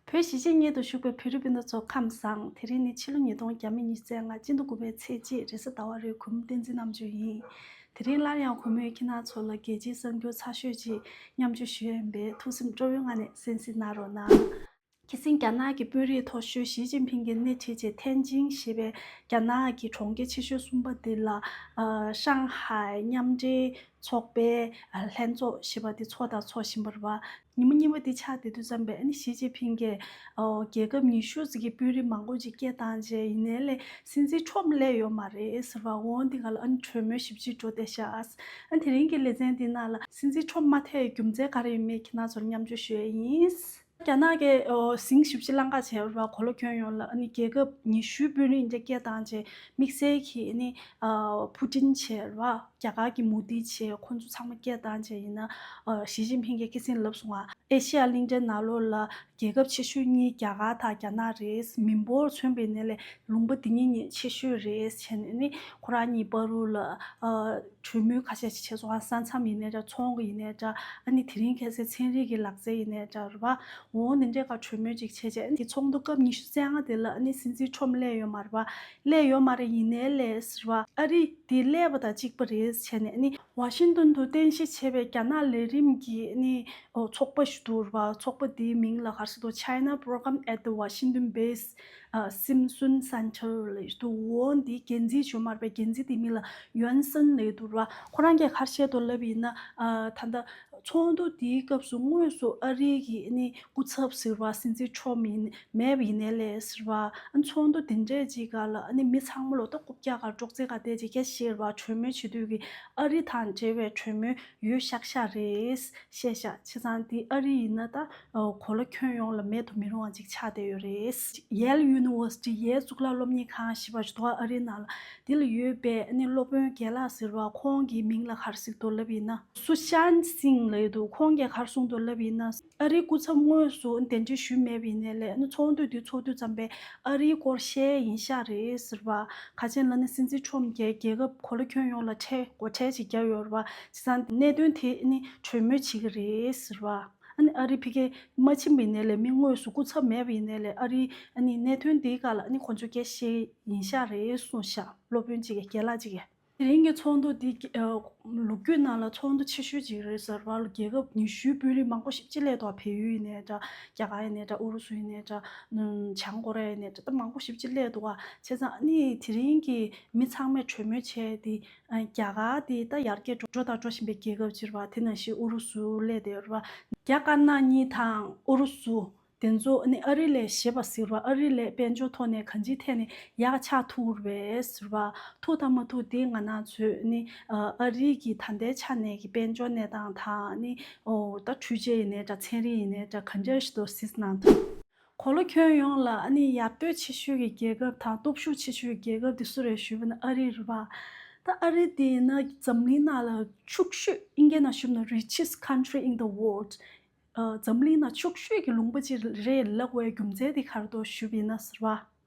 བོད་གཞིས་བྱེས་གཉིད་དུ་བཞུགས་པའི་བོད་རིགས་སྤུན་ཟླ་ཚོ་ཁམས་བཟང་དེ་རིང་ནི་ཕྱི་ལོ་ཉིས་སྟོང་བརྒྱ་མེད་གཉིས་ཚེས་ལྔ་སྤྱི་ཟླ་དགུ་པའི་ཚེས་གཅིག་རེས་གཟའ་ཟླ་བ་རེའི་གུང་བསྟན་འཛིན་རྣམ་སྤྱོད་ཡིན། དེ་རིང་སླར་ཡང་གུང་མོས་ཁྱེད་རྣམས་ཚོ་ལ་རྒྱལ་སྤྱིའི་གསར་འགྱུར་ཚགས་ཤོད་ཅིག་མཉམ་སྤྱོད་ཞུ་ཡས་པས་ཐུགས་སེམས་སྤྲོ་བོའི་ངང་ནས་གསན་གཟིགས་གནང་རོགས་གནང། ཁྱེད་སེང་རྒྱ་ནག་གི་དཔོན་རིགས་མཐོ་ཤོས་ཞིས་ཅིན་ཕིང་གི་སྣེ་ཁྲིད་ཅིག་ཐེན་ཅིང་ཞེས་པའི་རྒྱ་ནག་གི་གྲོང་ཁྱེར་ཆེ་ཤོས་གསུམ་པ་འདི་ལ། ཧྲང་ཧའེ་མཉམ་འབྲེལ་ཚོགས་པའི་ལྷན་ཚོགས་ཞེས་པ་དེ་ཚོགས་དང་ཚོགས་བཞིན་པར་བ། ཉིན་མོ་གཉིས་པ་དེ་ཕྱག་དེ་དུས་བརྩམས་པས་ཨ་ནི་ཞི་ཅིན་ཕིང་གིས། རྒྱལ་ཁབ་ཉི་ཤུ་ཟིག་གི་དཔོན་རིགས་མང་པོ་ཅིག་སྐད་བཏང་རྗེས་ཡིན་ནའི་ལས་སྲིད་འཛིན་འཕྲོ་བསླད་ཡོད་མ་རེད་ཟེར་བ་འོང་དེ་ག་ལ་ཨ་ནི་གྲོས་མོལ་ཞིབ་ཕྱིར་འགྲོ་བསྡད་བཞག་ཨ་ཨ་དེ་རིང་གི་ལེ་ཚན་དེ་ནང་ལ་སྲིད་འཛིན་འཕྲོ་མ་ཐེ་ཡི་རྒྱུ་མཚན་ག་རེ་ཡོད་མེད་གི་ནང་ཚོར་མཉམ་བརྗོད་ཞུ་ཡས་ཡིན། རྒྱ་ནག་གི་ཟིང་ཞིབ་ཀྱི་བླང་བྱ་བྱས་པ་གོ་ལ་ཁྱོན་ཡོངས་ལ་རྒྱལ་ཁབ་ཉི་ཤུའི་དཔོན་རིགས་རྒྱ་སྐྱེད་བཏང་རྗེས་དམིགས་བསལ་གྱིས་ཕུ་ཀྲིན་ཆེ་བ་རྒྱ་གར་གྱི་མུ་ཏི་ཆེ་ཁོ་ཚོ་ཚང་མ་སྐྱེད་བཏང་རྗེས་ཡིན། ཞི་ཅིན་ཕིང་གིས་སྐད་གསེང་ལབ་སོང་བ། ཨེ་ཤེ་ཡ་གླིང་ཕྲན་ནགས་ལོགས་ལ་རྒྱལ་ཁབ་ཆེ་ཤོས་གཉིས་རྒྱ་གར་དང་རྒྱ་ནག་རེད། མི་འབོར་མཚོན་པའི་གནས་ལས་ལུང་པ་འདི་གཉིས་ནི་ཆེ་ཤོས་རེད་བྱས་ནས་ཁོ་རང་གཉིས་པར་རུ་ལ། གྲོས་མོལ་ཁ་ཤས་ཤིག་བྱས་སོང་ཨ་ས་མཚམས་ཡིན་ནའི་འདྲ་ཚོང་གི་ཡིན་ནའི་འདྲ་ཨ་ནི་དེ་རིང་ཁྱེད་སའི་ཚན་རིག་གི་ལག་རྩལ་ཡིན་ནའི་འདྲ་རུ་བ་འོ་འོ་ནི་འདྲའི་ཁར་གྲོས་མོལ་ཅིག་བྱས་རྗེས་ཨ་ནི་ཚོགས་འདུ་སྐབས་ཉི་ཤུ་རྩེ་ལྔ་དེ་ལ་ཨ་ནི་སྲིད་འཛིན་ཁྲོམ་གླས་ཡོད་མ་རེད་བ། གླས་ཡོད་མ་རེད་ཡིན་ནའི་གླས་རེད་བ། ཨ་རི་དེ་གླས་བ་དང་གཅིག་པ་རེད་བྱས་ནས་ཨ་ནི། ཝ་ཤིང་ཏོན་དུ་རྟེན་གཞི་བྱས་པའི་རྒྱ་ནག་ལས་རིམ་གྱི་ཨ་ནི་ཚོགས་པ་ཞིག་འདུག་རུ་བ་ཚོགས་པ་དེའི་མིང་ལ་གར་སོ་དོ China Program at the Washington Base སེམས་གསུམ་ས་འཁྱར་ལེ་དུ་འོ་འདི་རྒྱལ་མཚན་ཞོ་དམར་པའི་རྒྱལ་མཚན་དེ་མིན་ལ་ཡོན་སྲན་ལེ་དུ་ར་ཁོ་རང་གི་ཁར་བཤད་དུ་ལབ་ཡིན་ན་ད་ལྟ། ཚོགས་འདུ་དེའི་སྐབས་སུ་དངོས་སུ་ཨ་རིའི་གི་ནི་སྐུ་ཚབ་ཟེར་བ་སྲིད་འཛིན་མཆོག་མིན་མེད་པ་ཡིན་ནའི་ལེ་ཟེར་བ། ཚོགས་འདུ་དེ་འདྲས་ཅིག་ག་ལ་ནི་མི་ཚང་མ་ལོ་ཏོག་རྐུབ་བཀྱག་གར་སྒྲོག་ཙེ་ག་བསྡད་ཅིག་ཁྱེད་ཤེར་བ་གྲོས་མོལ་བྱེད་དུས་ཀྱི་ཨ་རི་དང་འབྲེལ་བའི་གྲོས་མོལ་ཡོད་ཤག་ཤག་རེད། ཤེས་ཤག་ཁྱེད་ཚང་འདི་ཨ་རི་ཡིན་ན་ད། གོ་ལ་ཁྱོན་ཡོངས་ལ་མེད་དུ་མི་རུང་བ་ཅིག་ཆགས་བསྡད་ཡོད་རེད། ཡེལ་ཡུ་ནི་ཝར་སི་ཏི་ཡའི་གཙུག་ལག་སློབ་གཉེར་ཁང་ཞེས་པ་ཞིག་ཏུའང་ཨ་རིའི་ནང་དེ་ལ་ཡོད་པའི་སློབ་དཔོན་རྒན་ལགས་ཟེར་བ་ཁོང་གི་མིང་ལ་གར་སིག་མདོ་ལབ་ཡིན་ན། སུ་ཤཱན་སིང་ལ་ཡོད་འདུག་ཁོང་རྒྱ་གར་སོང་མདོ་ལབ་ཡིན་ན། ཨ་རིའི་སྐུ་ཚབ་དངོས་སུ་གདན་འདྲེན་ཞུས་མེད་པ་ཡིན་ནའི་ལས་ཚོགས་འདུ་དེ་ཚོགས་དུས་ཙམ་པས་ཨ་རིའི་སྐོར་བཤད་ཡིན་ཤག་རེད་ཟེར་བ། ག་ཅན་ལ་ནི་སྲིད་འཛིན་ཁྲོམ་རྒྱལ་རྒྱལ་ཁབ་གོ་ལ་ཁྱོན་ཡོངས་ལ་ཁྲལ་འགོ་ཁྲལ་ཅིག་བརྒྱབ་ཡོད་རེད་བ། དེ་སང་གནད་དོན་དེ་ནི་གྲོས་མོལ་བྱེད་ཀྱི་རེད་ཟེར་བ། ཨ་རིའི་བྷི་ཁེ་མ་ཆིམ་པའི་ནད་ལས་མི་དངོས་སུ་སྐུ་ཚབ་མེད་པའི་ནད་ལས་ཨ་རིའི་གནད་དོན་འདིའི་སྐར་ལ་ཁོང་ཚོའི་དགེ་བཤེས་ཡིན་ཤག་རེད་གསུངས་ཤག་སློབ་དཔོན་གཅིག་རྒན་ལགས་གཅིག། དེ་རིང་གི་ཚོགས་འདུ་འདི་ལུགས་རྒྱུད་ནང་ལ་ཚོགས་འདུ་ཆེ་ཤོས་གཅིག་རེད་ཟེར་བ་ལ་རྒྱལ་ཁབ་ཉི་ཤུའི་དཔོན་རིགས་མང་པོ་ཞིག་སྤྱི་ལས་ཐོག་བལ་ཡུལ་ཡིན་ནས་འདྲ་རྒྱ་གར་ཡིན་ནས་འདྲ་ཨུ་རུ་སུ་ཡིན་ནས་འདྲ་བྱང་ཀོ་རེ་ཡ་ཡིན་ནས་འདྲ་མང་པོ་ཞིག་སྤྱི་ལས་འདུག་བ་བྱས་ཙང་དེ་རིང་གི་མི་ཚང་མས་གྲོས་མོལ་བྱས་ཏེ་རྒྱ་གར་དེ་ད་ཡར་རྒྱས་འགྲོ་དང་འགྲོ་བཞིན་པའི་རྒྱལ་ཁབ་ཅིག་རེད་པ་དེ་ནང་བཞིན་ཨུ་རུ་སུ་ལས་དེ་རེད་པ། རྒྱ་དཀར་ནག་གཉིས་དང་ཨུ་རུ་སུ། དེ་ཚོ་ནི་ཨ་རི་ལས་ཞེས་པ་ཟིག་རེད་པ་ཨ་རི་ལས་དཔལ་འབྱོར་ཐོག་ནས་གང་ཅིའི་ཐད་ནས་ཡག་ཆགས་ཐུག་རེད་པས་ཟེར་བ། ཐུག་དང་མ་ཐུག་དེ་ང་ནང་ཚོས་ནི་ཨ་རི་གི་ད་ལྟའི་ཆ་ནས་ཀྱི་དཔལ་འབྱོར་གནས་སྟངས་དང་ནི། ད་འཕྲུལ་ཆས་ཡིན་ནས་འདྲ་ཚན་རིག་ཡིན་ནས་འདྲ་གང་འདྲ་ཞིག་ཏུ་ཟིག་ནང་ཐོག། གོ་ལོ་ཁྱོན་ཡོངས་ལ་ཨ་ནི་ཡར་ལྟོས་ཆེ་ཤོས་ཀྱི་རྒྱལ་ཁབ་དང་སྟོབས་ཤུགས་ཆེ་ཤོས་ཀྱི་རྒྱལ་ཁབ་དེ་སུ་རེད་ཞུས་པ་ན་ཨ་རི་རེད་པ། ད་ཨ་རི་དེ་ཡིན་ན་འཛམ་གླིང་ནང་ལ་ཕྱུག་ཤོས་ཨིན་སྐད་ནང་ཞུས་པ་ན Richest Country in the World། འཛམ་གླིང་ནང་ཕྱུག་ཤོས་ཀྱི་ལུང་པ་ཅིག་རེད་ལབ་བའི་རྒྱུ་མཚན་དེ་ག་རེ་དོ་ཞུས་པ་ཡིན་ན་ཟེར་བ།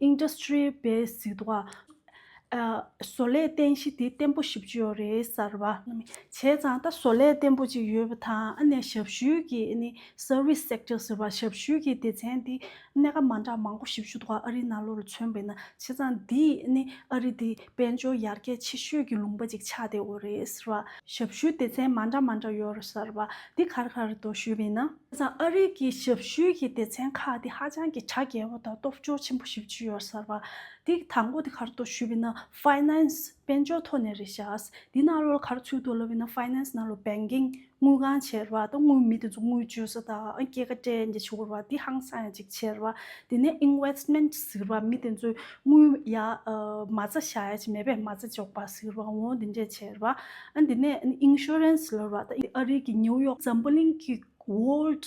Industry Base བཟོ་ལས་རྟེན་གཞི་དེ་བརྟན་པོ་བཞི་བཅུ་ཡོད་རེད་གསར་བ། བྱས་ཙང་ད་བཟོ་ལས་བརྟན་པོ་གཅིག་ཡོད་པ་དང་ཞབས་ཞུའི་གི Service Sector ཟེར་བ་ཞབས་ཞུའི་གི་སྡེ་ཚན་དེ་གནད་ཀ་མ་འདྲ་མང་པོ་བཞི་བཅུ་དགུ་བ་ཨ་རི་ནང་ལོགས་ལ་མཚོན་པས་ན་བྱས་ཙང་འདིས་ཨ་རི་དེ་དཔལ་འབྱོར་ཡར་རྒྱས་ཆེ་ཤོས་ཀྱི་ལུང་པ་ཅིག་ཆགས་བསྡད་འོས་རེད་ཟེར་བ། ཞབས་ཞུའི་སྡེ་ཚན་མ་འདྲ་མ་འདྲ་ཡོད་རེད་ཟེར་བ་འདི་ག་རེ་ག་རེ་འདུག་ཞུས་པས་ན། དེ་སང་ཨ་རིག་གི་ཞབས་ཞུའི་གི་སྡེ་ཚན་ཁག་འདི་ཧ་ཅང་གི་གྲ་རྒྱས་པོ་དང་སྟོབས་འབྱོར་ཆེན་པོ་ཞིག་བྱུས་ཡོད་ཟེར་བ། འདི་གི་དང་པོ་འདི་ག་རེ་འདུག་ཞུས་པས་ན Finance དཔལ་འབྱོར་ཐོག་ནས་རེད་ཤག། འདི་ནང་ལོ་ལ་ག་རེ་ཚུད་འདུག་ལབ་པས་ན Finance ནང་ལོ Banking། དངུལ་ཁང་བྱེ་ར་བ་དང་དངུལ་མི་དེ་ཚོ་དངུལ་བཅོལ་ས་དང་སྐྱེད་ཀ་སྤྲད་མཁན་བྱེ་ར་བ་དེ་ཧང་སང་ཡང་ཅིག་བྱེ་ར་བ་དེ་ནས Investment ཟེར་བ་མི་དེ་ཚོས་དངུལ་ཡ་མ་རྩ་བཞག་ཡ་ཅིག་མེད་པས་མ་རྩ་འཇོག་པ་ཟེར་བ་འོང་དེ་འདྲས་བྱེ་ར་བ་དེ་ནས Insurance ལོར་བ་དང་ཨ་རིག་གི New York Zamboling གི World།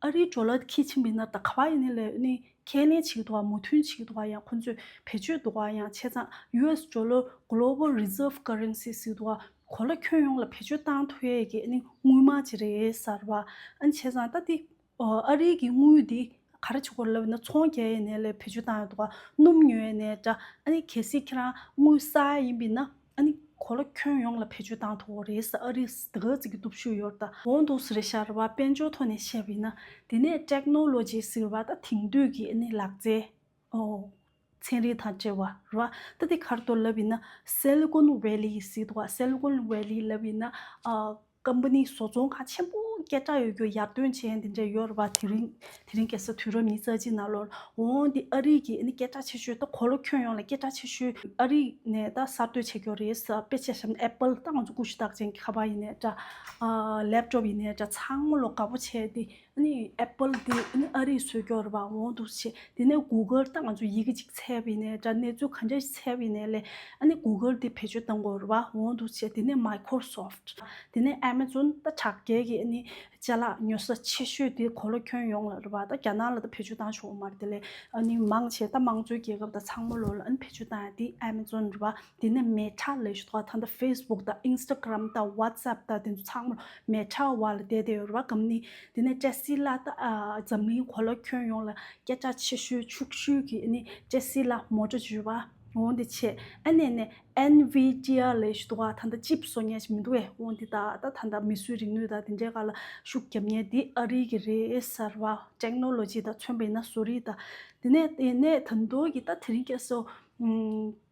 ཨ་རིའི་འབྲོག་ལ་ཁྱི་ཆེན་མི་སྣ་དང་ཁ་བ་ཡི་ནི་ལེའུ་ནི་ཁས་ལེན་བྱེད་འདུག་བ་མུ་མཐུན་བྱེད་འདུག་བ་ཡང་ཁོ་ཚོས་བེད་སྤྱོད་འདུག་བ་ཡང་བྱས་ཙང US འབྲོག་ལོ Global Reserve Currency ཟེར་འདུག་བ་གོ་ལ་ཁྱོན་ཡོངས་ལ་བེད་སྤྱོད་བཏང་ཐུབ་ཡས་ཀྱི་ནི་དངུལ་མང་ཅིག་རེད་ཟེར་བ་ཨང་བྱས་ཙང་ད་འདི་ཨ་རིའི་གི་དངུལ་འདི་ག་རེ་བྱེད་དགོས་ལབ་ཡི་ན་ཚོང་རྒྱལ་ཡི་ནི་ལས་བེད་སྤྱོད་བཏང་ཡོད་འདུག་བ་སྣུམ་ཉོ་ཡི་ནི་འདྲ་ཨ་ནི་གལ་སྲིད་ཁྱེད་རང་དངུལ་གསར་ཡིན་པའི་ན། ཨ་ནི། གོ་ལ་ཁྱོན་ཡོངས་ལ་བེད་སྤྱོད་བཏང་ཐུབ་བོ་རེད་ས་ཨ་རིས་དེ་ག་ཙི་གི་སྟོབས་ཤུགས་ཡོར་ད་འོང་འདུག་ཟེར་ཤར་བ་དཔལ་འབྱོར་ཐོག་ནས་བཤད་པ་ཡིན་ན་དེ་ནས Technology ཟེར་བ་ད་དེང་དུས་ཀྱི་ཨ་ནི་ལག་རྩལ། ཚན་རིག་དང་བྲལ་བ་རེད་བ་ད་དེ་གར་གཏོར་ལབ་ཡིན་ན Silicon Valley ཟེར་འདུག་བ Silicon Valley ལབ་ཡིན་ན། སྐམ་པོ་ནི་བཟོ་ཚོང་ཁང་ཆེན་པོ་སྐད་གྲགས་ཡོད་རྒྱུ་ཡར་ཐོན་ཅན་དེ་འདྲ་ཡོད་རེད་པ། དེ་རིང་དེ་རིང་གལ་སྲིད་དུས་རབས་ཉིས་རྩ་གཅིག་ནང་ལོར་འོང་དེ་ཨ་རིག་གིས་སྐད་གྲགས་ཆེ་ཤོས་ད་གོ་ལོ་ཁྱོན་ཡོངས་ལ་སྐད་གྲགས་ཆེ་ཤོས་ཨ་རིག་ནས་ད་གསར་གཏོད་བྱེད་རྒྱུ་རེད་ཟེར་དཔེ་ཆ་ཞབས Apple ད་ང་ཚོ་ཀུ་ཤུ་རྟགས་ཅན་གྱི་ཁ་པར་ཡིན་ནས་འདྲ། Laptop ཡིན་ནས་འདྲ་ཚང་མ་ལོ་འགའ་པོ་བྱས་དེ་ནི Apple དེ་ནི་ཨ་རིའི་སྲོལ་སྐྱོར་བ་འོང་འདུག་ཆེ། དེ་ནས Google དང་ང་ཚོ་ཡི་གེ་གཅིག་ཚད་བི་ནས་འདྲ་གནས་ཚུལ་ག་འདྲ་ཞིག་ཚད་བི་ནས་ལས། ཨ་ནི Google དེ་བེད་སྤྱོད་དང་སྐོར་བ་འོང་འདུག་ཆེ་དེ་ནས Microsoft། དེ་ནས Amazon ད་དྲག་རྒྱལ་གི་ཨ་ནི་ལྕེ་ལག་ཉོ་ས་ཆེ་ཤོས་དེ་གོ་ལོ་ཁྱོན་ཡོངས་ལ་རི་བ་ད་རྒྱ་ནག་ལ་ད་བེད་སྤྱོད་བཏང་ཆོག་མར་དེ་ལས་ཨ་ནི་མང་ཆེ་ད་དམངས་གཙོའི་རྒྱལ་ཁབ་ད་ཚང་མ་ལོ་ལ་ཨ་ནི་བེད་སྤྱོད་བཏང་ཡ་དེ Amazon རི་བ། དེ་ནས་མེ་ཁྲ་ལས་ཞུ་དག་ཐ་ན Facebook དང Instagram དང WhatsApp དང་དེ་ཚོ་ཚང་མར་མེ་ཁྲ་བ་ལ་བསྡད་བསྡད་ཡོད་རེད་བ་གམ་ནི། དེ་ནས་ཀྲེ་སི་ལ་དང་འཛམ་གླིང་གོ་ལ་ཁྱོན་ཡོངས་ལ་སྐད་ཆ་ཆེ་ཤོས་ཕྱུག་ཤོས་ཀྱི་ནི་ཀྲེ་སི་ལ་མོ་ཏྲོ་ཇུས་བ་འོང་དེ་ཆེ་ཨ་ནས་ནས NVIDIA ལས་ཞུ་དག་ཐ་ན་ཅིབ་བཟོ་ཉན་ཞིག་མི་འདུག་བས་འོང་དེ་ད་ད་ཐ་ན་མི་སུའི་རིག་ནུས་དང་དེ་འདྲའི་ག་ལ་ཤུགས་རྒྱབ་ཉན་དེ་ཨ་རི་གི་རེད་ཟེར་བ Technology དང་མཚོན་པ་ཡིན་ན་བཟོ་རིག་དང་དེ་ནས་དེ་ནས་ད་འདོད་ཀྱི་ད་དེ་རིང་ཀྱེ་སོ།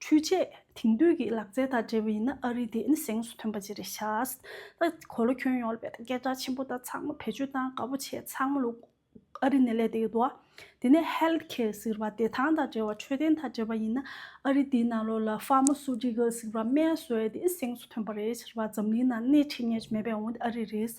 འཕྲུལ་ཆས་དེང་དུས་ཀྱི་ལག་རྩལ་དང་འབྲེལ་བ་ཡིན་ན་ཨ་རི་དེ་ནི་གཟེངས་སུ་ཐོན་པ་ཅི་རེད་ཤགས། གོ་ལ་ཁྱོན་ཡོངས་ལ་བལྟས་ན་སྐད་གྲགས་ཆེན་པོ་དང་ཚང་མ་བེད་སྤྱོད་བཏང་དགའ་པོ་བྱེད་ཚང་མ་ལུགས་ཨ་རི་ནས་ལས་དེ་ཡོད་དོ། དེ་ནས Health Care ཟེར་བ་བདེ་ཐང་དང་འབྲེལ་བ་འཕྲོད་བསྟེན་དང་འབྲེལ་བ་ཡིན་ན་ཨ་རི་དེའི་ནང་ལོགས་ལ Pharmaceutical ཟེར་བ་སྨན་བཟོས་དེ་གཟེངས་སུ་ཐོན་པ་རེད་ཟེར་བ་འཛམ་གླིང་ནང་སྣེ་ཁྲིད་ངེས་ཀྱི་མེད་པའི་འོན་ཏེ་ཨ་རི་རེད་ས་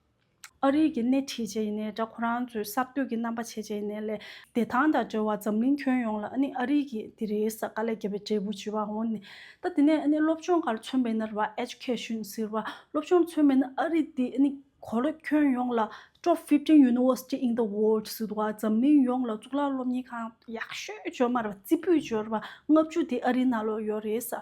ཨ་རིག་གི་སྣེ་ཁྲིད་བྱས་ནས་དགྲ་ཁོ་རང་ཚོའི་གསར་གཏོད་ཀྱི་རྣམ་པ་ཆེ་བྱས་ནས་ལས། བདེ་ཐང་དང་འབྲེལ་བ་འཛམ་གླིང་ཁྱོན་ཡོངས་ལ་ཨ་རིག་གིས་དེ་རེའི་ས་དཀའ་ལས་རྒྱལ་བའི་འབྲས་བུ་ཇི་བར་འོང། ད་དེ་ནས་སློབ་སྦྱོང་གར་མཚོན་པའི་ནར་བ། Education། ཟེར་བ་སློབ་སྦྱོང་མཚོན་པའི་ཨ་རིག་དེ་གོ་ལ་ཁྱོན་ཡོངས་ལ། Top Fifteen University in the World། ཟེར་བ་འཛམ་གླིང་ཡོངས་ལ་གཙུག་ལག་སློབ་གཉེར་ཁང་ཡག་ཤོས་བཅོ་མར་བ་རྩིས་འབུལ་བཅོལ་བ་ལྔ་བཅུ་དེ་ཨ་རིག་ནང་ལོགས་ཡོད་རེད་ས།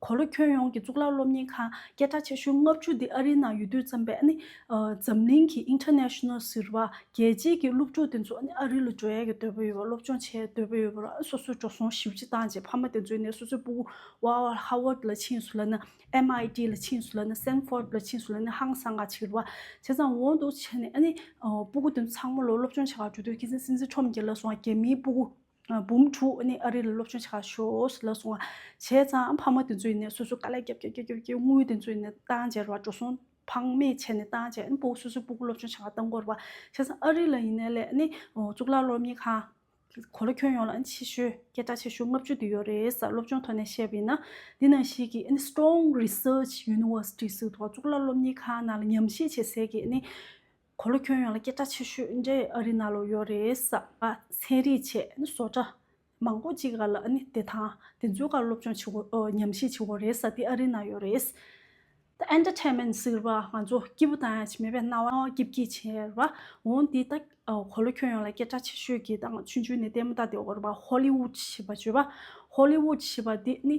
གོ་ལོ་ཁྱོན་ཡོངས་ཀྱི་གཙུག་ལག་སློབ་གཉེར་ཁང་སྐད་གྲགས་ཆེ་ཤོས་ལྔ་བཅུ་འདི་ཨ་རིའི་ནང་ཡོད་དུས་བརྩམས་པས་ནི། འཛམ་གླིང་གི International ཟེར་བ་རྒྱལ་སྤྱིའི་ཀྱི་སློབ་ཕྲུག་དེ་ཚོ་ནི་ཨ་རི་ལ་འགྲོ་ཡ་གི་འདོད་པོ་ཡོད་པ་སློབ་སྦྱོང་བྱེད་ཡ་འདོད་པོ་ཡོད་པ་རང་སོ་སོའི་འགྲོ་སོང་ཞིབ་ཅིག་བཏང་རྗེས་ཕ་མ་དེ་ཚོའི་ནས་སོ་སོའི་སྤུ་བོ Harvard ལ་ཕྱིན་སུ་ལ་ནི MIT ལ་ཕྱིན་སུ་ལ་ནི Stanford ལ་ཕྱིན་སུ་ལ་ནི་ཧང་སང་ག་བྱེད་བ་བྱས་ཙང་འོང་འདུག་བྱས་ནས་ནི་སྤུ་གུ་དེ་ཚོ་ཚང་མ་ལོ་སློབ་སྦྱོང་བྱེད་པར་འགྲོ་དུས་ཁྱེད་ཚང་སྲིད་འཛིན་ཁྲོམ་རྒྱལ་ལ་སོང་བ་རྒྱ་མིའི་སྤུ་གུ། འབུམ་དྲུག་ནི་ཨ་རི་ལ་སློབ་སྦྱོང་བྱ་ཞོག་ལ་སོང། བྱས་ཙང་ཕ་མ་དེ་ཚོ་ཡིན་ནས་སོ་སོའི་དཀའ་ལས་རྒྱབ་རྒྱབ་རྒྱབ་རྒྱབ་ཀྱིས་དངུལ་དེ་ཚོ་ཡིན་ནས་ཏང་བྱས་རོགས་འགྲོ་སོང་ཕངས་མེད་བྱས་ནས་ཏང་བྱས་སྤུག་སོ་སོའི་སྤུག་སློབ་སྦྱོང་བྱ་བ་ཏང་འགོར་བ། བྱས་ཙང་ཨ་རི་ལ་ཡིན་ནས་ལས་གཙུག་ལག་སློབ་གཉེར་ཁང། གོ་ལ་ཁྱོན་ཡོངས་ལ་ཆེ་ཤོས་སྐད་གྲགས་ཆེ་ཤོས་ལྔ་བཅུ་དེ་ཡོད་རེད་ས་སློབ་སྦྱོང་ཐོག་ནས་བཤད་པ་ཡིན་ན། འདི་ནང་བཞིན་གྱི Strong Research University ཟེར་བའི་ཐོག་གཙུག་ལག་སློབ་གཉེར་ཁང་ནང་ལ་ཉམས་བཞེས་བྱེད་སའི་གི། གོ་ལོ་ཁྱོད་ཡོང་ལ་སྐད་གྲགས་ཆེ་ཤོས་ཨིན་འདྲའི་ཨ་རི་ན་ལོ་ཡོད་རེད། ཚན་རིག་ཆེད་བཟོ་གྲྭ་མང་པོ་གཅིག་ག་ལ་ནི་བདེ་ཐང་དེ་ཚོའི་ཁར་སློབ་སྦྱོང་བྱེད་དགོས་ཉམས་ཞིབ་བྱེད་དགོས་རེད་ས་དེ་ཨ་རི་ན་ཡོད་རེད། ད Entertainment ཟེར་བ་ང་ཚོ་སྐྱིད་པོ་དང་ཡང་མེད་པའི་སྣང་བ་སྐྱིད་སྐྱིད་བྱེད་ར་འོང་འདི་ལྟ། གོ་ལོ་ཁྱོད་ཡོང་ལ་སྐད་གྲགས་ཆེ་ཤོས་ཀྱི་ཏང་ཆུང་ཆུང་ནས་ལྟད་མོ་ལྟ་དེ་འོར་བ Hollywood ཞེས་པ་བརྗོད་པ Hollywood ཞེས་པ་དེ་ནི་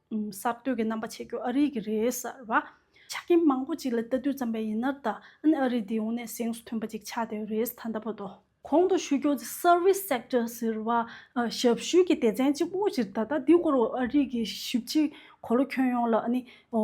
གསར་གཏོད་ཀྱི་རྣམ་པ་བྱེད་རྒྱུ་ཨ་རིག་གི་རེད་ཟེར་བ། ཆ་རྐྱེན་མང་པོ་གཅིག་ལ་ལྟ་དུས་བརྩམས་པའི་ཡིན་ནར་ད་ཨ་རིག་འདི་འོང་ནས་གཟེངས་སུ་ཐོན་པ་ཅིག་ཆགས་བསྡད་རེད་ཟེར་ད་ལྟ་བ་དོ། གོང་དུ་ཞུས་ཀྱོ་ཚེ Service Sector ཟེར་བ་ཞབས་ཞུའི་གྱི་སྡེ་ཚན་གཅིག་པོ་ཅིག་ད་ལྟ་འདི་སྐོར་འོ་ཨ་རིག་གི་ཞིབ་ཕྱི་གོ་ལོ་ཁྱོན་ཡོངས་ལ་ཨ་ནི་འོ།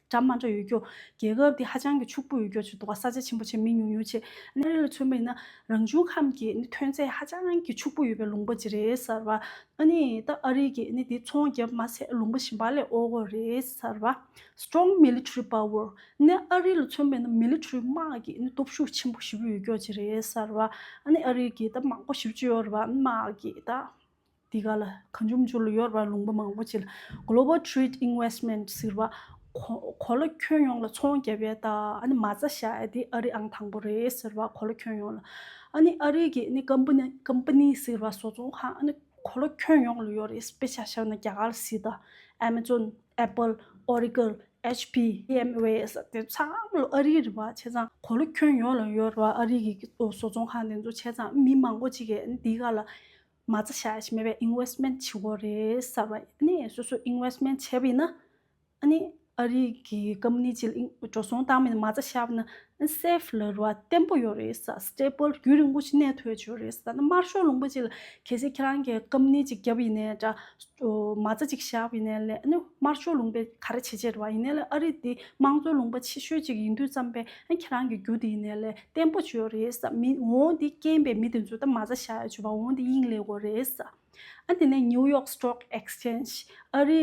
གྲམ་མ་འདྲ་ཡོད་རྒྱུ། རྒྱལ་ཁབ་འདི་ཧ་ཅང་གི་ཕྱུག་པོ་ཡོད་རྒྱུ་ཆུ་འདུག་ས་ཆ་ཆེན་པོ་ཆེ་མི་ཉུང་ཉུང་ཆེ། གནས་རི་ལ་མཚོན་པའི་ན་རང་བྱུང་ཁམས་ཀྱི་ནི་ཐོན་ཚད་ཧ་ཅང་གི་ཕྱུག་པོ་ཡོད་པའི་ལུང་པ་ཅི་རེད་ཟེར་བ། ཨ་ནི་ད་ཨ་རི་གི་ནི་དེ་ཚོང་རྒྱབ་མ་ཟད་ལུང་པ་ཞིམ་པ་ལས་ཨོ་གོ་རེད་ཟེར་བ། Strong Military Power། གནས་ཨ་རི་ལ་མཚོན་པའི་ན Military དམག་གི་ནི་སྟོབས་ཤུགས་ཆེན་པོ་བཞི་པོ་ཡོད་རྒྱུ་ཅི་རེད་ཟེར་བ། ཨ་ནི་ཨ་རི་གི་ད་དམག་སྒོ་བཞི་བཅུ་ཡོད་རེད་བ། དམག་གི་ད། འདི་ག་ལ་གང་འབྱུང་འགྱུར་ལ་ཡོད་པར་ལུང་པ་མང་པོ་བྱས་ལ Global Trade Investment ཟེར་བ། གོ་ལ་ཁྱོན་ཡོངས་ལ་ཚོང་བརྒྱབ་པའི་ད་ནི་མ་རྩ་བཞག་ཡ་དེ་ཨ་རི་ཨང་དང་པོ་རེད་ཟེར་བ་གོ་ལ་ཁྱོན་ཡོངས་ལ། ཨ་ནི་ཨ་རི་གི་ནི Company ཟེར་བ་བཟོ་ཚོང་ཁང་ཨ་ནི་གོ་ལ་ཁྱོན་ཡོངས་ལ་ཡོད་རེད་དཔེ་ཆ་བཞག་ན་རྒྱ་གར་ལ་སི་ད། Amazon། Apple། Oracle། HP། VMware ཟེར་བ་དེ་ཚོ་ཚང་མ་ཨ་རིའི་རེད་བ་བྱས་ཙང་གོ་ལ་ཁྱོན་ཡོངས་ལ་ཡོད་རེད་བ་ཨ་རི་གི་བཟོ་ཚོང་ཁང་དེ་ཚོ་བྱས་ཙང་མི་མང་པོ་ཅིག་གིས་འདི་ག་ལ། མ་རྩ་བྱ་ཡ་ཞིག་མེད་པའི Investment བྱེད་དགོས་རེད་གསར་བ་ནི་སོ་སོས Investment བྱས་པའི་ན་ནི་ཨ་རི་གི Company གཅིག་ལ་འགྲོ་སོང་བཏང་མིན་མ་རྩ་བྱ་བ་ན་ནི Safe ལ་རུ་བ་བརྟན་པོ་ཡོད་རེད་གསར Stable རྒྱུན་རིང་པོ་ཞིག་གནས་ཐུབ་ཡོད་ཆོས་རེད་གསར་ན་དམར་ཤོག་ལུང་པ་གཅིག་ལ་གལ་སྲིད་ཁྱེད་རང་གི Company གཅིག་བརྒྱབ་ཡིན་ནའི་འདྲ་མ་རྩ་གཅིག་བཞག་པ་ཡིན་ནའི་ལས་ནི་དམར་ཤོག་ལུང་པའི་ག་རེ་བྱེད་བྱེད་རུ་བ་ཡིན་ནའི་ལས་ཨ་རི་འདི་དམངས་གཙོའི་ལུང་པ་ཆེ་ཤོས་གཅིག་ཡིན་དུས་བརྩམས་པའི་ཁྱེད་རང་གི་རྒྱུ་དེ་ཡིན་ནའི་ལས་བརྟན་པོ་བྱོས་རེས་མི་འོང་འདི་རྐྱེན་པས་མི་དེ་ཚོ་ད་མ་ཚ་ཤ་ཡ་བྱོས་པ་འོང་འདི་དབྱིངས་ལས་གོ་རེས། ཨ་དེ་ནས New York Stock Exchange ཨ་རི་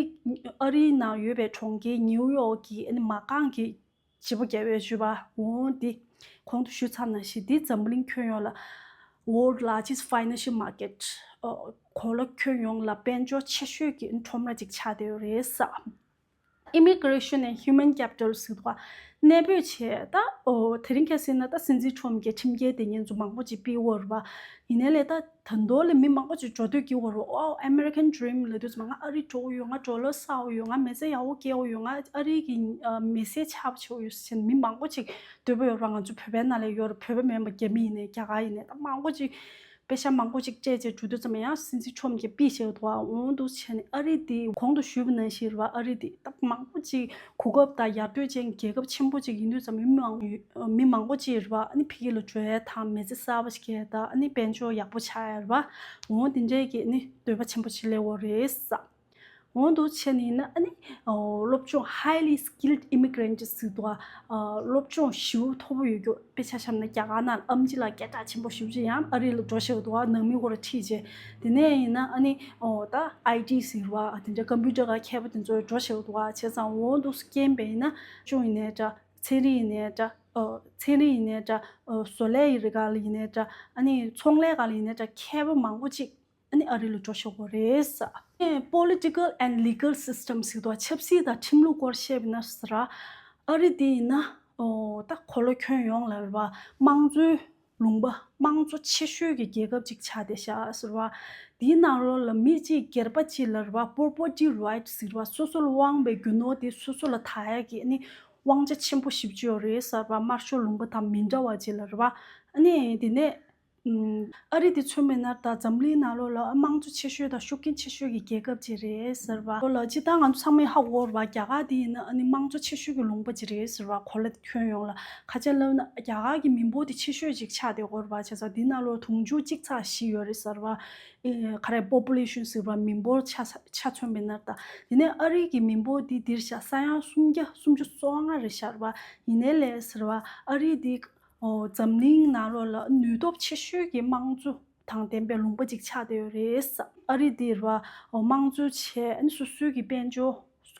ཨ་རི་ནང་ཡོད་པའི་གྲོང་ཁྱེར New York གི་མ་རྐང་གི་བྱེད་པོ་རྒྱལ་བས་བྱོས་པ་འོང་འདི་གོང་དུ་ཞུས་ཚར་ན་ཞིག་འདི་འཛམ་གླིང་ཁྱོན་ཡོངས་ལ World Largest Financial Market གོ་ལ་ཁྱོན་ཡོངས་ལ་དཔལ་འབྱོར་ཆེ་ཤོས་ཀྱི་ཁྲོམ་ར་ཅིག་ཆགས་བསྡད་ཡོད་རེས། Immigration and Human Capital ཟེར་བ་གནས་སྤོས་བྱས། དེ་རིང་གལ་སྲིད་ན་སྲིད་འཛིན་ཁྲོམ་གྱི་ཁྲིམས་འགལ་དེ་ཉེས་འཛུགས་མང་པོ་ཅིག་སྤེལ་འོར་བ་ཡིན་ནའི་ལས་ད་མདོ་ལས་མི་མང་པོ་ཅིག་འགྲོ་སྡོད་ཀྱི་འོར་བ་ཨོའོ American Dream ལས་དུས་ཚོད་མ་ང་ཨ་རི་འགྲོ་འོ་ཡོད་ང་འགྲོ་ལོ་སའོ་ཡོད་ང་མེ་བཙའ་ཡའོ་སྐྱེའོ་ཡོད་ང་ཨ་རི་གི་མེ་སའི་ཆ་བྱའོ་ཡོད་བྱས་ནས་མི་མང་པོ་ཅིག་སྡོད་པ་ཡོར་བ་ང་ཚོ་བོད་པའི་ནང་ལས་ཡོར་བོད་པ་མིན་པ་རྒྱ་མི་ཡིན་ནས་རྒྱ་གར་ཡིན་ནས་ད་མང་པོ་ཅིག་དཔེ་ཆ་མང་པོ་ཞིག་སྤྱད་རྗེས་དྲུག་བསྡུ་ཙམ་ཡང་སྲིད་འཛིན་ཆོམ་གྱིས་པི་ཞེ་ཐོ་ཨ་འོང་འདུག་བྱས་ནས་ཨ་རི་དེ་གོང་དུ་ཞུས་པ་ནང་བཞིན་ར་ཨ་རི་དེ་སྟབས་མང་པོ་ཅིག་གོ་སྐབས་དང་ཡར་སྤྲོད་ཅན་རྒྱལ་ཁབ་ཆེན་པོ་ཅིག་ཡིན་དུས་ཙམ་མི་མང་པོ་ཅིག་ར་ཨ་ནི་ཕི་གི་ལོ་གྲོལ་དང་མེ་ཚེ་གསར་པ་ཞིག་གི་ད་ཨ་ནི་དཔལ་འབྱོར་ཡག་པོ་ཆགས་ཡ་ར་ཨོང་དེ་འདྲས་ཀྱི་ནི་འདོད་པ་ཆེན་པོ་ཆི་ལེ་འོ་རེད་བསམ། གོང་དུ་ཆེ་ནས་ནི་སློབ་སྦྱོང highly skilled immigrant ཀྱི་ཟུར་དུ་སློབ་སྦྱོང་ཞི་བ་མཐོ་པོ་ཡོད་རྒྱུ་དཔེ་ཆ་བཤམས་ན་རྒྱ་གར་ནང་ཨམ་ཅི་ལ་སྐད་གྲགས་ཆེན་པོ་ཞུ་རྒྱུ་ཡང་ཨ་རི་ལ་འགྲོ་ཤེས་པ་དང་ནང་མི་དབུ་རུ་ཁྲིད་རྗེས་དེ་ནས་ཡིན་ན་ནི་ད IT ཟེར་བ་དེ་འདྲ Computer ག་མཁས་པ་དེ་ཚོ་འགྲོ་ཤེས་པ་དང་བྱས་ཙང་འོག་ཏུ་སྐྱེན་པས་ན་ཅུང་ཡིན་ནའི་འདྲ་ཚན་རིག་ཡིན་ནའི་འདྲ་ཚན་རིག་ཡིན་ནའི་འདྲ་བཟོ་ལས་ཡིན་ནའི་འདྲ་ཚོང་ལས་ག་ལ་ཡིན་ནའི་འདྲ་མཁས་པ་མང་པོ་ཅིག་ཨ་ནི་ཨ་རི་ལ་འགྲོ་ཆོག་པོ་རེད། Political and Legal System ཞིག་ཏུ་ཆབ་སྲིད་དང་ཁྲིམས་ལུགས་སྐོར་བཤད་པའི་ན་ཟེར་ར། ཨ་རི་དེ་ཡིན་ན། ད་གོ་ལོ་ཁྱོད་ཡོངས་ལ་རེད་པ། དམངས་གཙོའི་ལུང་པ་དམངས་གཙོ་ཆེ་ཤོས་ཀྱི་རྒྱལ་ཁབ་ཅིག་ཆགས་ཏེ་ཤག་ཟེར་བ། དེའི་ནང་རོ་ལ་མི་གཅིག་སྒེར་པ་གཅིག་ལ་རེད་པ Property Right ཟེར་བ་སོ་སོ་ལ་དབང་བའི་རྒྱུ་ནོར་དེ་སོ་སོ་ལ་ད་ཡ་གི་ཨ་ནི་དབང་ཆ་ཆེན་པོ་ཞིག་བཅོས་རེད་ཟེར་བ་དམར་ཤོག་ལུང་པ་དང་མི་འདྲ་བ་ཅིག་ལ་རེད་པ། ཨ་ནི་དེ་ནས། ཨ་རི་དེ་མཚོན་མེད་ནར་དང་འཛམ་གླིང་ནང་ལོ་ལ་དམངས་གཙོ་ཆེ་ཤོས་དང་ཤུགས་རྐྱེན་ཆེ་ཤོས་ཀྱི་རྒྱལ་ཁབ་ཅིག་རེད་ཟེར་བ། ལོ་ལ་སྤྱི་བཏང་ང་ཚོ་ཚང་མས་ཧ་གོ་བར་བ་རྒྱ་གར་དེ་ཡིན་ན་ཨ་ནི་དམངས་གཙོ་ཆེ་ཤོས་ཀྱི་ལུང་པ་ཅིག་རེད་ཟེར་བ་གོ་ལ་དེ་ཁྱོན་ཡོངས་ལ་ཁ་ཆད་བསླབ་ན་རྒྱ་གར་གྱི་མི་འབོར་དེ་ཆེ་ཤོས་ཅིག་ཆགས་ཏེ་གོ་བར་བ་ཆ་ཚང་དེ་ན་ལོ་དུང་ཕྱུར་གཅིག་ཚགས་བཞི་ཡོད་རེད་ཟེར་བ། ག་རེ Population ཟེར་བ་མི་འབོར་ཆ་མཚོན་མེད་ནར་དང་དེ་ནས་ཨ་རི་གྱི་མི་འབོར་དེ་འདིར་བཞག་ས་ཡང་སུམ་བརྒྱ་སུམ་ཅུ་སོ་ལྔ་རེད་ཤར་བ་ཡིན་ནའི་ལས་ཟེར་བ་ཨ་རི་དེ་འཛམ་གླིང་ནང་རོ་ལ་ནུས་སྟོབས་ཆེ་ཤོས་ཀྱི་དམངས་གཙོ་དང་ལྡན་པའི་ལུང་པ་ཅིག་ཆགས་བསྡད་ཡོད་རེད། ཨ་རི་འདིར་བ་དམངས་གཙོའི་ཆེད་སོ་སོའི་གི་དཔལ་འབྱོར་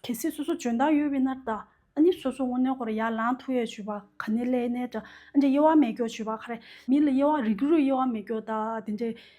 གལ་སྲིད་སོ་སོ་འཇོན་ཐང་ཡོད་བས་ནར་ད་ནི་སོ་སོ་དངོས་གནས་ཁོ་ར་ཡར་ལངས་ཐུ་ཡས་བྱོས་པ་ག་ནས་ལས་གནས་དྲ་འདྲེ་དབྱེ་བ་མེད་སྐྱོ་བྱོས་པ་ག་རེ་མི་ལ་དབྱེ་བ་རིགས་རུས་དབྱེ་བ་མེད་སྐྱོ་ད་དེ་འདྲའི།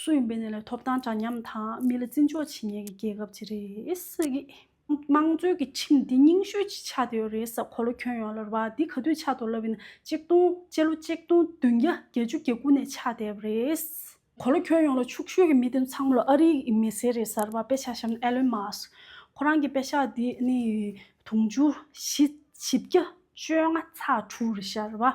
སུ་ཡིན་པའི་གནས་ལ་ཐོབ་ཐང་འདྲ་མཉམ་དང་མི་ལ་བརྩི་འཇོག་བྱེད་ངེས་ཀྱི་རྒྱལ་ཁབ་ཅིག་རེད། དམངས་གཙོའི་གི་ཁྲིམས་འདི་རྙིང་ཤོས་ཅིག་ཆགས་བསྡད་ཡོད་རེད་ས་གོ་ལོ་ཁྱོན་ཡོངས་ལ་རུ་བ་འདི་ག་དུས་ཆགས་ཐོག་ལབ་ཡིན་ན་གཅིག་སྟོང་སྤྱི་ལོ་གཅིག་སྟོང་བདུན་བརྒྱ་བརྒྱད་བཅུ་གྱ་དགུ་ནས་ཆགས་བསྡད་པ་རེད། གོ་ལོ་ཁྱོན་ཡོངས་ལ་ཕྱུག་ཤོས་ཀྱི་མི་དེ་ཚང་མ་ལ་ཨ་རིའི་གི་མི་སེར་རེད་ས་རུ་བ་དཔེ་ཆ་ཤམ་ཨེ་ལོན་མ་སྐ་ཁོ་རང་གི་དཔེ་ཆ་འདི་ནི་དུང་ཕྱུར་བཞི་བཞི་བརྒྱ་བཅོ་ལྔ་ཚ་དྲུག་རེད་ཤ་རུ་བ།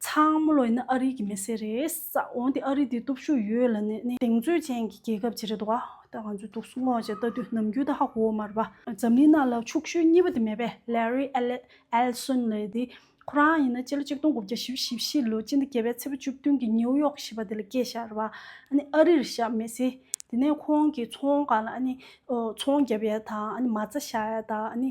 ཚང་མ་ལོ་ཡིན་ན་ཨ་རི་གི་མི་སེར་རེད། འོན་ཏེ་ཨ་རི་དེ་སྟོབས་ཤུགས་ཡོད་ལ་ནི་གདེང་ཚོད་ཅན་གྱི་རྒྱལ་ཁབ་ཅིག་རེད་འདུག་ད་ང་ཚོས་དུག་སྲུང་སྔོག་བྱེད་ལྟ་དུས་ནམ་རྒྱུན་ད་ཧ་གོ་བ་མ་རེད་པ། འཛམ་གླིང་ནང་ལ་ཕྱུག་ཤོས་གཉིས་པ་དེ་མེད་པས Larry Ellison ལས་དེ་ཁོ་རང་ཡིན་ན་སྤྱི་ལོ་ཆིག་སྟོང་དགུ་བརྒྱ་བཞི་བཞི་བཞི་ལོ་སྤྱི་ཟླ་བརྒྱད་པའི་ཚེས་པ་བཅུ་བདུན་གྱི་ནེའུ་ཡོག་ཞེས་པ་དེ་ལ་སྐྱེས་ཤག་རེད་པ། ཨ་ནི་ཨ་རིར་ཞག་མེད་ཚེ་དེ་ནས་ཁོང་གིས་ཚོང་ཁང་ལ་ཨ་ནི་ཚོང་བརྒྱབ་ཡས་དང་ཨ་ནི་མ་རྩ་བཞག་ཡས་དང་ཨ་ནི་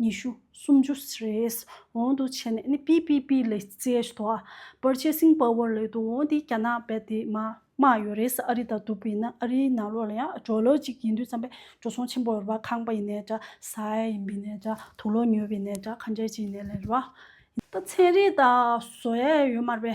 ཉི་ཤུ། སུམ་ཅུ། རེས་འོང་དུ་བྱས་ནས་ནི་པི་པི་པི་ལས་ཙེ་ཞི་ཏོ་ཨ། པར་ཆས་སིང་པ་ཝོར་ལས་དུ་འོང་དེ་རྒྱ་ནག་བལ་དེ་མ་མ་ཡོད་རེས་ཨ་རི་དང་དུ་བུ་ཡིན་ན་ཨ་རིའི་ནང་ལོག་ལ་ཡང་འགྲོ་ལོ་ཅིག་ཡིན་དུས་བརྩམས་པའི་འགྲོ་སོང་ཆེན་པོ་ཡོད་པ་ཁང་པ་ཡིན་ནས་འདྲ་ས་ཨེ་ཡིན་པའི་ནས་འདྲ་དུག་ལོ་ཉོས་པའི་ནས་འདྲ་ཁ་འབྲལ་ཅིག་ཡིན་ནས་ལས་རོ། ད་ཚན་རིག་དང་བཟོ་ཡས་ཡོད་མར་པའི་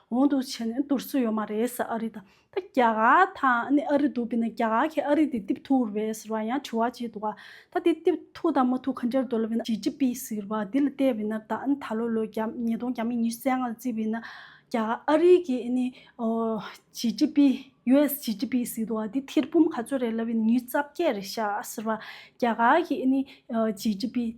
གོང་དུ་བྱས་ནས་འདུར་སྲོལ་ཡོད་མ་རེད་ཟེར་ཨ་རི་དང་ད་རྒྱ་གར་དང་ཨ་རི་འདུག་དེ་ནས་རྒྱ་གར་གྱིས་ཨ་རི་དེ་གཏིབས་ཐུག་རེད་ཟེར་བ་ཡང་དྲི་བ་བྱས་འདུག་ད་དེ་གཏིབས་ཐུག་དང་མ་ཐུག་ག་འདྲར་འདོད་ལབ་ན་ཇི་ཇི་པི་ཟེར་བ་དེ་ལ་བལྟས་པས་ན་ད་ད་ལོ་ལོ་རྒྱ་ཉིས་སྟོང་གྱ་མི་ཉི་ཤུ་རྩ་ལྔ་ལ་བརྩིས་པས་ན་རྒྱ་གར་ཨ་རི་གྱི་ཇི་ཇི་པི US ཇི་ཇི་པི་ཟེར་འདུག་དེ་ཐེར་འབུམ་ག་ཚོད་རེད་ལབ་པས་ན་ཉིས་བརྩ་བརྒྱད་རེད་ཤག་ཟེར་བ་རྒྱ་གར་གྱི་ཇི་ཇི་པི།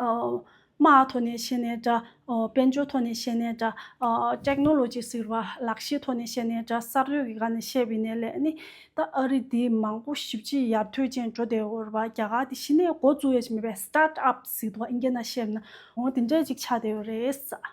དམའ་འོག་ཐོག་ནས་བཤད་ནའི་འདྲ། དཔལ་འབྱོར་ཐོག་ནས་བཤད་ནའི་འདྲ། Technology། ཟེར་བ་ལག་ཤེས་ཐོག་ནས་བཤད་ནའི་འདྲ་གསར་གཏོད་ཀྱི་སྒང་ནས་བཤད་པའི་ནས་ལས་ནི། ད་ཨ་རི་འདི་མང་པོ་ཞིབ་གཅིག་ཡར་ཐོན་ཅན་འགྲོ་བདེ་བོར་བ་རྒྱ་གར་འདི་ཤི་ནས་འགོ་བཙུགས་ཡས་མེད་པས Start Up ཟེར་འདུག་ཨ་ཨིན་རྒྱ་ན་བཤད་ན་འོང་བ་དེ་འདྲས་ཅིག་ཆགས་བདེ་བོ་རེད།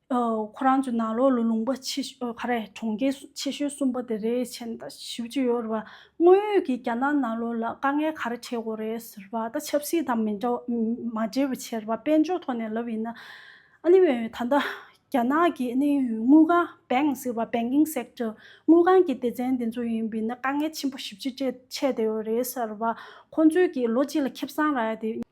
ཁོ་རང་ཚོའི་ནང་ལོགས་ལ་ལུང་པ་ཆེ་ཤོས་ག་རེད་གྲོང་ཁྱེར་ཆེ་ཤོས་གསུམ་པ་དེ་རེད་བྱས་ད་ཞིབ་གཅིག་ཡོད་རེད་བ་དངོས་ཡོད་ཀྱི་རྒྱ་ནག་ནང་ལོགས་ལ་དཀའ་ངལ་ག་རེ་འཕྲད་དགོས་རེད་ཟེར་བ་ད་ཆབ་སྲིད་དང་མི་འདྲ་མ་འབྲེལ་བའི་ཕྱིར་བ་དཔལ་འབྱོར་ཐོག་ནས་ལབ་ཡིན་ན་ཨ་ནི་ད་ལྟ་རྒྱ་ནག་གི་ཨ་ནི་དངུལ་ཁང Bank ཟེར་བ Banking Sector དངུལ་ཁང་གི་སྡེ་ཚན་དེ་ཚོ་ཡིན་པས་ན་དཀའ་ངལ་ཆེན་པོ་ཞིབ་གཅིག་འཕྲད་འཕྲད་ད་ཡོད་རེད་ཟེར་བ་ཁོང་ཚོས་ཀྱི་ལོ་གཅིག་ལ་ཁེབས་སང་རག་ཡ་དེ།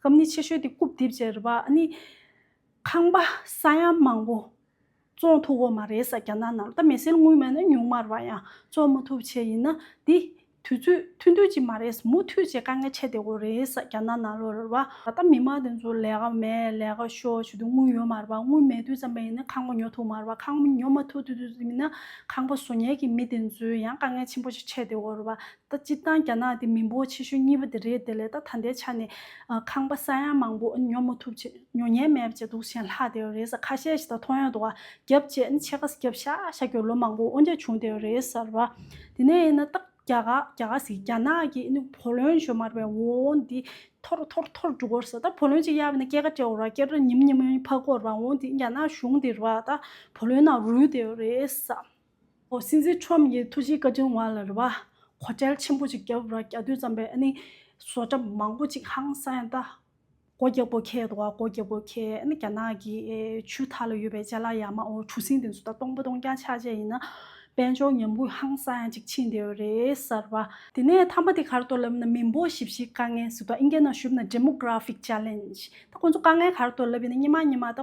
སྐབས་ནི་ཆེ་ཤོས་དེ་རྐུབ་རྡིབ་བྱས་རེད་པ་ཨ་ནི། ཁང་པ་ས་ཡ་མང་པོ་བཙོང་ཐུབ་འོ་མ་རེད་ས་རྒྱ་ནག་ནང་ལ་ད་མེ་སེལ་དངུལ་མེད་ན་ཉུང་མར་བ་ཡང་བཙོང་མ་ཐུབ་བྱས་ཡིན་ན་དེ་དུས་ཚོད་མཐུན་མཐུན་ཅིག་མ་རེད་ས་མུ་མཐུད་བྱས་དཀའ་ངལ་ཆེ་བདེ་བོ་རེད་ས་རྒྱ་ནག་ནང་ལོ་རེད་པ། ད་ལྟ་མི་མང་དེ་ཚོ་ལས་ཀ་མེད་ལས་ཀ་ཤོར་བྱས་དུས་དངུལ་ཡོད་མར་བ་དངུལ་མེད་དུས་ཙམ་པ་ཡིན་ན་ཁང་པ་ཉོ་ཐུབ་མར་བ་ཁང་པ་ཉོ་མ་ཐུབ་དུས་ཚོད་ཡིན་ན་ཁང་པ་བཟོ་ཉལ་གྱི་མི་དེ་ཚོའི་ཡང་དཀའ་ངལ་ཆེན་པོ་ཆེ་བདེ་བོ་རེད་པ་ད་སྤྱིར་བཏང་རྒྱ་ནག་དེ་མི་འབོར་ཆེ་ཤོས་གཉིས་པ་དེ་རེད་དེ་ལས་ད་ལྟའི་ཆ་ནས་ཁང་པ་ས་ཡང་མང་པོ་ཉོ་མ་ཐུབ་ཅེས་ཉོ་ཉེན་མེད་ཅེས་སྡུག་ཞེན་ལྷག་བསྡད་ཡོད་རེད་ཟེར་ཁ་ཤས་ཤིག་ད་མཐོང་ཡོད་འདུག་རྒྱབ་བཅས་ནི་ཕྱེད་ཀ་རྒྱབ་ཤ་ཤ་གྱོན་ལོ་མང་པོ་དབོ་འདྲེ་བྱུང་བསྡད་ཡོད་རེད་ཟེར་བ། དེ་ནས་ཡིན་ན་སྟག་རྒྱ་ག་རྒྱ་ག་ཟིག་རྒྱ་ནག་གིས་ནི་བུ་ལོན་བཅོལ་མར་བའི་འོ་འདི་ཐོར་ཐོར་ཐོར་འགྲོ་གོ་ཟེར་ད་བུ་ལོན་ཅིག་གཡར་བས་ན་སྐྱེ་ཀ་སྤྲེའུ་ར་སྐྱེར་ར་ཉིམ་ཉིམ་ཕ་གོར་བ་འོ་འདི་རྒྱ་ནག་གཞུང་དེ་ར་ད་བུ་ལོན་ནང་རུལ་བསྡད་ཡོད་རེད་ཟེར། ཨོ་སྲིད་འཛིན་ཁྲོམ་གྱི་ཐུགས་རྗེའི་བཀའ་དྲིན་དབང་ལ་རེ་བ། གོ་གྲལ་ཆེན་པོ་ཅིག་རྒྱབ་ར་རྒྱ་བསྟུན་ཙམ་པའི་ཨ་ནི། བཟོ་གྲ་མང་པོ་ཅིག་ཧང་སང་ཡང་ལྟ། གོ་རྒྱ་གོ་ཁའི་དོ་བ་གོ་རྒྱ་གོ་ཁའི་ཨ་ནི་རྒྱ་ནག་གི་ཆུ་ཐག་ལ་ཡོད་པའི་ལྕེ་ལ་ཡ་མ་ཨོ་གྲུ་སྲིན་དེ་ཚོ་ད་སྟོང་པ་སྟོང་རྐྱང་ཆགས་བྱས་ཡིན་ན། དཔལ་འབྱོར་ཉམས་རྒུད་ཧང་སང་ཡང་ཅིག་ཕྱིན་བསྡད་ཡོད་རེད་གསར་བ། དེ་ནས་ཐ་མ་དེ་གར་གཏོར་ལབ་ན་མི་འབོ་བཞི་བཞི་དཀའ་ངལ་སི་ཏོ་ཨིན་རྒྱ་ནག་ཞུབ་ན Demographic Challenge ད་ཁོང་ཚོ་དཀའ་ངལ་གར་གཏོར་ལབ་ཡིན་ན་སྙེ་མ་སྙེ་མ་ད།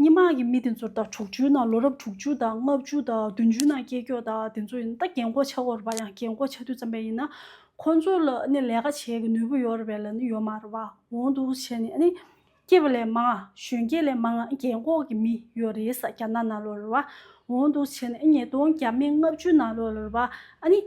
སྙན་དམག་གི་མི་དེ་ཚོར་ཟླ་དྲུག་ཅུའི་ནང་ལོ་རབས་དྲུག་ཅུ་དང་ལྔ་བཅུ་དང་བདུན་ཅུའི་ནང་སྐྱེས་མཆོག་དང་དེ་ཚོ་ཡིན་ད་རྒན་གོག་ཆགས་འོར་བ་ཡང་རྒན་གོག་ཆགས་དུས་ཙམ་པས་ཡིན་ན་ཁོང་ཚོ་ལ་ནི་ལས་ཀ་བྱེད་ཀྱི་ནུས་པོ་ཡོར་བས་ལ་ནི་ཡོ་མ་ར་བ་འོང་འདུག་བྱས་ནས་ནི་སྐྱེས་པ་ལས་མང་གཞོན་སྐྱེས་ལས་མང་རྒན་གོག་གི་མི་ཡོ་རེས་རྒྱ་ནག་ནང་ལོ་ར་བ་འོང་འདུག་བྱས་ནས་ཉིས་སྟོང་གྱ་མི་ལྔ་བཅུའི་ནང་ལོ་ར་བ་ནི་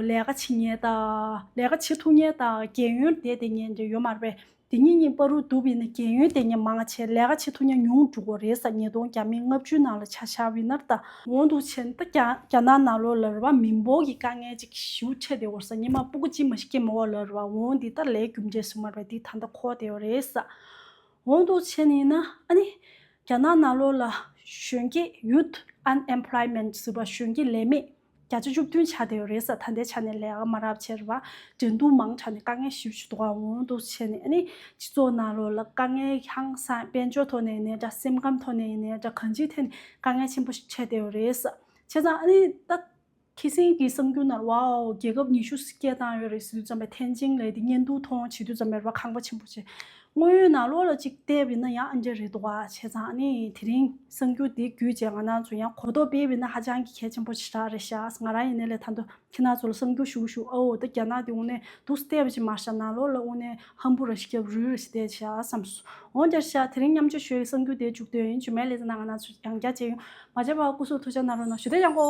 ལས་ཀ་བྱེད་ངེས་དང་ལས་ཀ་བྱེད་ཐུག་ངེས་དང་རྒན་ཡོལ་འདས་འདས་ངེས་འདྲེ་ཡོ་མ་ར་བས་འདི་ཉིད་གཉིས་པ་རུ་འདུ་བས་ན་རྒན་ཡོལ་དེ་ཉིད་མང་ཆེ་ལས་ཀ་བྱེད་ཐུ་ཉ་ཉུང་འབྲུག་གོ་རེ་ས་ཉིས་སྟོང་གྱ་མེད་ལྔ་བཅུའི་ནང་ལ་ཆ་ཤ་བི་ནར་ད། འོང་འདུག་ཆེ་ད་རྒྱ་ནག་ན་ལོ་ལ་རི་བ་མི་འབོག་གི་དཀའ་ངལ་ཅིག་ཞུ་འཕྲད་དེ་འོ་ས་ཉི་མ་སྤུ་གུ་ཅི་མ་ཞིག་སྐྱེ་མ་འོ་ལ་རི་བ་འོང་འདི་ད་ལས་རྒྱུ་འབྲས་སུ་མར་བས་འདི་ད་མདའ་ཁོག་དེ་འོ་རེ་ས། འོང་འདུག་ཆེ་ནི་ན་ཨ་ནི། རྒྱ་ནག་ན་ལོ་ལ་གཞོན་སྐྱེས Youth Unemployment ཟི་བ་གཞོན་སྐྱེས་ལས་མེད། བརྒྱ་ཆ་བཅུ་བདུན་ཆ་དེ་རེས་གཟའ་ད་ལྟའི་ཆ་ནས་ལས་ཀ་མ་རག་ཕྱིར་བ་འབྲེལ་མདུང་མང་དྲགས་ནས་དཀའ་ངལ་ཞིབ་ཆུ་དོག་འོང་དུ་ཆས་ནས་ནི་སྤྱི་ཚོགས་ནང་ལོག་ལ་དཀའ་ངལ་ཧང་སངས་དཔལ་འབྱོར་ཐོག་ནས་ནས་འདྲ་སེམས་ཁམས་ཐོག་ནས་ནས་འདྲ་གང་ཅིའི་ཐད་ནས་དཀའ་ངལ་ཆེན་པོ་ཞིག་ཆས་དེ་རེས་བྱས་ཙང་ཨ་ནི་ད་ཁྱི་སེང་གི་གསང་རྒྱུད་ནར་བའོ་རྒྱལ་ཁབ་ཉི་ཤུ་སྐྱེལ་བཏང་ཡོད་རེད་ཟེར་དུས་ཙམ་པའི་ཐེན་ཅིང་ལའི་འདི་གཉེན་སྡུག་མཐོང་བྱེད་དུས་ཙམ་པའི་ར་ཁང་པ་ཆེན་པོ་ཆེ་དངོས་ཡོད་ནང་ལོགས་ལ་གཅིག་བལྟས་བས་ན་ཡང་ཨ་འབྲས་རེད་འདུག་བ་བྱས་ཙང་ནི་དེ་རིང་གསང་རྒྱུ་འདི་རྒྱུད་རྗེས་ང་ནང་ཚོ་ཡང་གོ་རྟོགས་སྤེལ་བས་ན་ཧ་ཅང་གི་གལ་ཆེན་པོ་ཆེ་དྲག་རེད་ཤགས་ང་རང་ཡིན་ནའི་ལས་ཐ་འདུ་ཁྱེད་ནང་ཚོ་ལ་གསང་རྒྱུ་ཞུ་ཞུ་ཨའོ་ད་རྒྱ་ནག་འདི་དབུ་ནས་འདུག་སྟེ་བ་ཅིག་མ་ཤགས་ནང་ལོགས་ལ་དབུ་ནས་ཧམ་བུ་ར་ཤི་རྒྱབ་རུས་ར་ཤི་བལྟས་ཤགས་བསམ་སོང་འོང་རྒྱར་ཤགས་དེ་རིང་མཉམ་སྤྱོད་ཞོལ་གྱི་གསང་རྒྱུ་དེ་འཇུག་འདོད་ཡིན་རྗུན་མའི་ལས་ཙེ་ན་ང་ནང་ཚོ་ཡང་བསྐྱར་བཅས་ཡོང་མ་བྱས་པ་སྐུ་གཟུགས་ཐུགས་ཅག་ནང་རོ་ནང་ཞུ་བདེ་ཡག་གོ།